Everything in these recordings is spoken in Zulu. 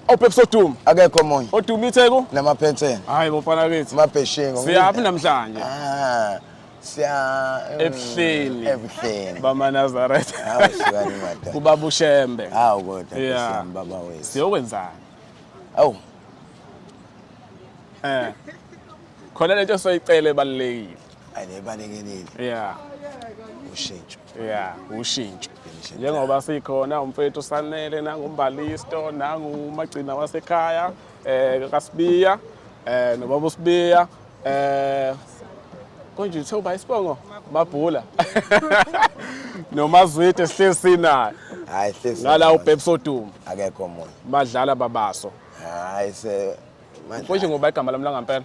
Opepsi Odumi. Akekho omunye. Odumi iTheku. Namaphensela. Hayi bofana bethu. Mabheshengo. Siyaphi namhlanje? Ah. Siya mm, ebuhleni. Ebuhleni. Bama Nazareth. Hawu sikani mata. Kubaba uShembe. Hawu kodwa yeah. baba wethu. Siyokwenzani? Awu. Eh. Khona lento soyicela ebalekile. Ayibalekile. Yeah. Ushintsho. ya ushintsho njengoba sikhona umfethu sanele nangumbalisto nangumagcina wasekhaya um kasibiya um eh, nobaba usibiya um eh, konje uthe uba isibongo mabhula nomazwide sihleli sinayo hayi hlezi ngala ubhebs oduma akekho omunye madlala babaso hayi se konje ngoba igama lami langampela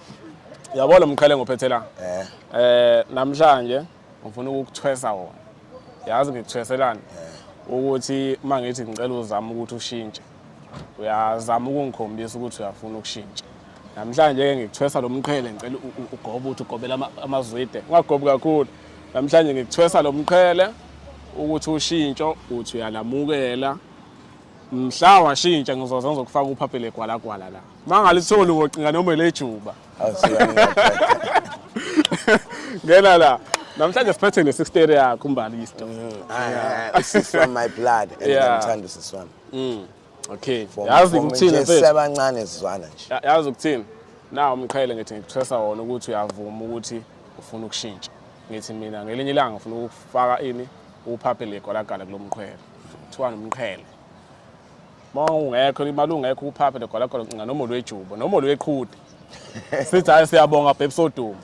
Yabo lo mqhele ngophethe la. Eh. Eh namhlanje ngifuna ukukuthwesa wona. Yazi ngikuthweselani? Eh. Ukuthi uma ngithi ngicela uzama ukuthi ushintshe. Uyazama ukungikhombisa ukuthi uyafuna ukushintsha. Namhlanje ke ngikuthwesa lo mqhele ngicela ugobe ukuthi ugobela amazwide. Ungagobi kakhulu. Namhlanje ngikuthwesa lo mqhele ukuthi ushintsho uthi uyalamukela mhla washintsha ngizoze ngizokufaka uphaphele gwalagwala la Mangalitholi ngocinga noma lejuba. Ngena la. Namhlanje siphethe ne-sister yakho umbali isto. Mm, ah, ah, sis from my blood and ngiyamthanda usisi wami. Mm. Okay. Yazi ukuthini mfethu? Sebancane sizwana nje. Yazi ukuthini? Nawu umqhele ngithi ngikuthesa wona ukuthi uyavuma ukuthi ufuna ukushintsha. Ngithi mina ngelinye ilanga ngifuna ukufaka ini uphaphe legwalagala kulomqhele. Kuthiwa nomqhele. Uma ungekho imali ungekho uphaphe nogwala khona ncinga noma olwejubo noma olweqhude. Sithi hayi siyabonga bhebhi soduma.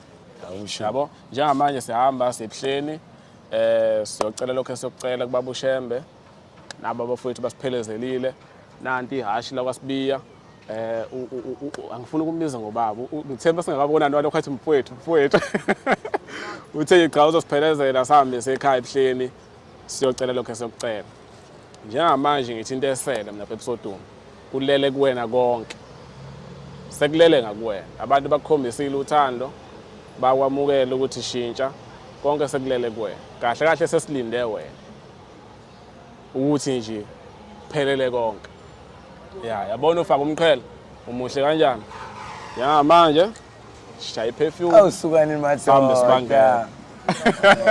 Awusho. Yabo njengamanje sihamba siyebuhleni eh siyocela lokho esiyocela kubaba uShembe nabo abafowethu basiphelezelile nanti ihashi la kwaSibiya eh u- u- u- u- angifuni ukumbiza ngobaba U- ngithemba singakabonani walokho athi mfowethu mfowethu uthe cha uzosiphelezela sihambe sekhaya ebuhleni siyocela lokho esokucela njengamanje ngithi into esele mina bebsoduma kulele kuwena konke sekulele ngakuwena abantu bakukhombisile uthando bakwamukela ukuthi shintsha konke sekulele kuwena kahle kahle sesilinde wena ukuthi nje phelele konke ya yabona ufaka umqhele umuhle kanjani ya manje shaya iperfume awusukani madoda